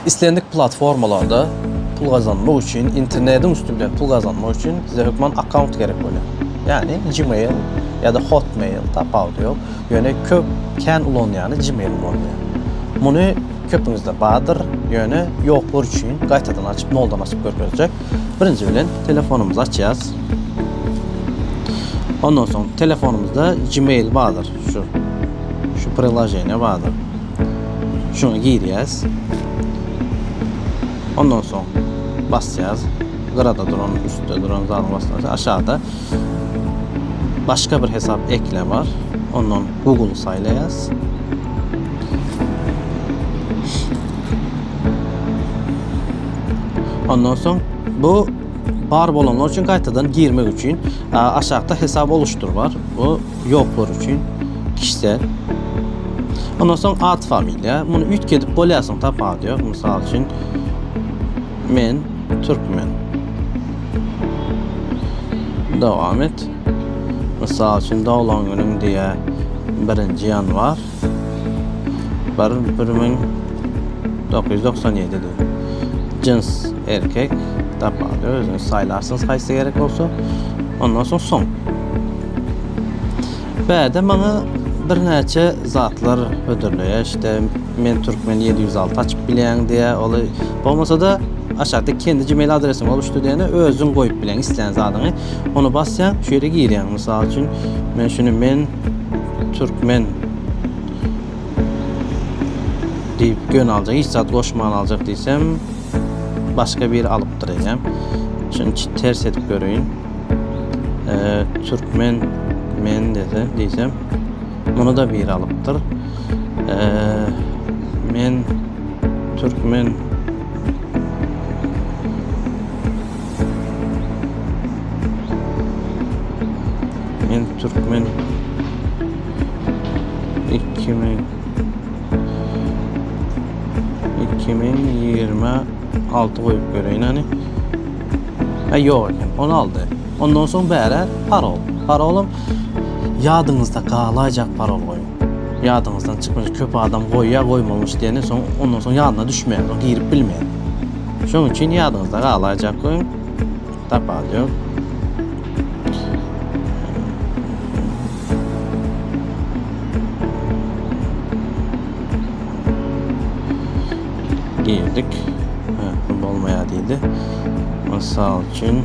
Islendik platformalarda pul gazanmak üçin, internediň üsti bilen pul gazanmak üçin size hökman akkaunt gerek bolýar. Ýagny Gmail ýa-da Hotmail tapawudy ýok. Ýöne köp kän ulanýany Gmail ulanýar. Muny köpüňizde bardyr, ýöne ýoklar üçin gaýtadan açyp, noldan açyp görkezjek. Birinji bilen telefonymyzy açýas. Ondan soň telefonymyzda Gmail bardyr, şu şu prilaženiýa bardyr. Şuna girýäs. Ondan soň basýas. Gyrada duran, üstde duran zady basýas. Aşakda başga bir hesap ekle bar. Ondan Google saýlaýas. Ondan soň bu bar bolanlar üçin gaýtadan girmek üçin aşakda hesap oluşdur bar. Bu Ýoklar üçin kişisel. Ondan soň at familiýa. Muny üýtgedip bolýarsyň tapawudy ýok. Mysal üçin men türkmen. Dowam et. Mysal üçin doglan günüň diýä 1-nji ýanwar. Bar bir müň dokuz ýüz doksan ýedide. Jyns erkek tapmaly özüňiz saýlarsyňyz haýsy gerek bolsa ondan soň soň. Bäde maňa birnäçe zatlar hödürleýär işte men türkmen ýedi ýüz alty açyp bilýän diýýär oly bolmasada aşakda kendi gmail adresiň boluşdy diýene özüň goýup bileň islän zadyňy ony basýaň şu ýere girýäň mysal üçin men şuny men Türkmen diýip gön aljak, hiç zat goşman aljak diýsem, başga biri alypdyr eýýäm. Şuny ters edip göreýin. Türkmen men dese diýsem, muny da biri alypdyr. Men türkmen Men Türkmen 2000 2026 goýup göreýin hani. Ha ýok eken, onu aldy. Ondan soň bäri parol. Parolum ýadyňyzda galaýjak parol goýuň. Ýadyňyzdan çykmaz. Köp adam goýýa, goýmalmyş diýeni, soň ondan soň ýadyna düşmeýär, girip bilmeýär. Şonuň üçin ýadyňyzda galaýjak we tapal ýok. Girdik. Ha, bolmaýar diýdi. Mysal üçin